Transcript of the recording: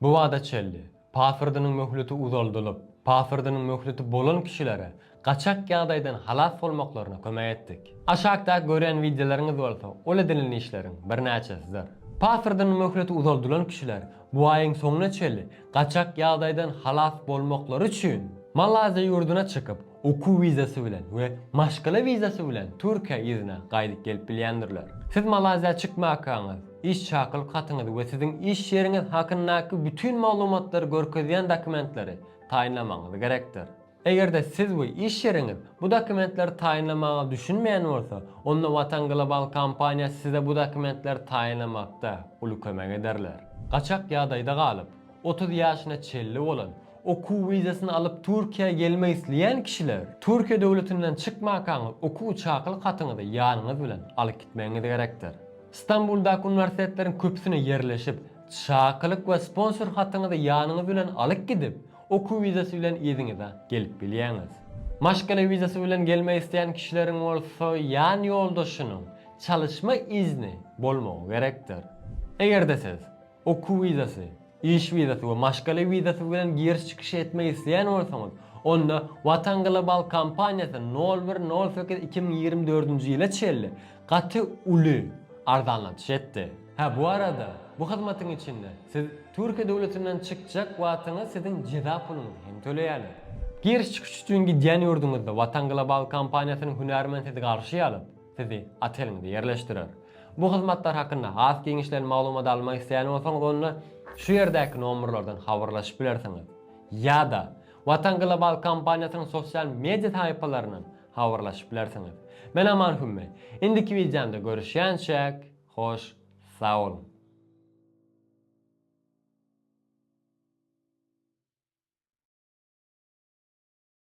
Bu bada çenli, pasportynyň möhleti uzaldylyp, pasportynyň möhleti bolan kişilere gaçak ýagdaýdan halas bolmaklaryna kömek etdik. Aşakda görýän wideolaryňyz bolsa ol edinilen işleriň birnäçesidir. Pasportynyň möhleti uzaldylan kişiler bu aýyň soňuna çenli gaçak ýagdaýdan halas bolmaklary üçin Malaýziýa ýurduna çykyp, okuw wizasy bilen we maşgala wizasy bilen Türkiýe yzyna gaýdyp gelip bilýändirler. Siz Malaziýa çykmakaňyz, iş çakylyk hatyňyzy we siziň iş ýeriňiz hakyndaky bütin maglumatlary görkezýän dokumentleri taýynlamagyňyz gerekdir. Eger-de siz we iş ýeriňiz bu dokumentleri taýynlamaga düşünmeýän bolsa, onda Watan Global kompaniýasy size bu dokumentleri taýynlamakda uly kömek ederler. Gaçak ýagdaýda galyp, otuz ýaşyna çenli bolan, Okuw wizasyny alyp Türkiýä gelmek isleýän kişiler Türkiýe döwletinden çykmakaňyz okuw çakylyk hatyňyzy ýanyňyz bilen alyp gitmegiňiz gerekdir. Stambuldaky uniwersitetleriň köpüsine ýerleşip, çakylyk we sponsor hatyňyzy ýanyňyz bilen alyp gidip, okuw wizasy bilen yzyňyza gelip bilýäňiz. Maşgala wizasy bilen gelmek isleýän kişileriň bolsa ýan ýoldaşynyň çalyşma izni bolmagy gerekdir. Eger-de siz Okuw wizasy, iş wizasy we maşgala wizasy bilen giriş-çykyş etmek isleýän bolsaňyz, onda Watan Global kompaniýasy nol bir nol sekiz iki müň ýigrimi dördünji ýyla çenli gaty uly arzanlatyş etdi. Hä, bu arada, bu hyzmatyň içinde siz Türkiýe döwletinden çykjak wagtyňyz siziň jeza puluňyzy hem töleýärler. Giriş-çykyş üçin gidýän ýurduňyzda Watan Global kompaniýasynyň hünärmeni sizi garşy alyp, sizi oteliňize ýerleşdirer. Bu hyzmatlar hakynda has giňişleýin maglumat almak isleýän bolsaňyz onda şu ýerdäki nomerlerden habarlaşyp bilersiňiz. Ýa-da Watan Global kompaniýasynyň sosial media sahypalaryndan habarlaşyp bilersiňiz. Men Aman Hümme. Indiki wideomda görüşýänçäk, hoş sag boluň.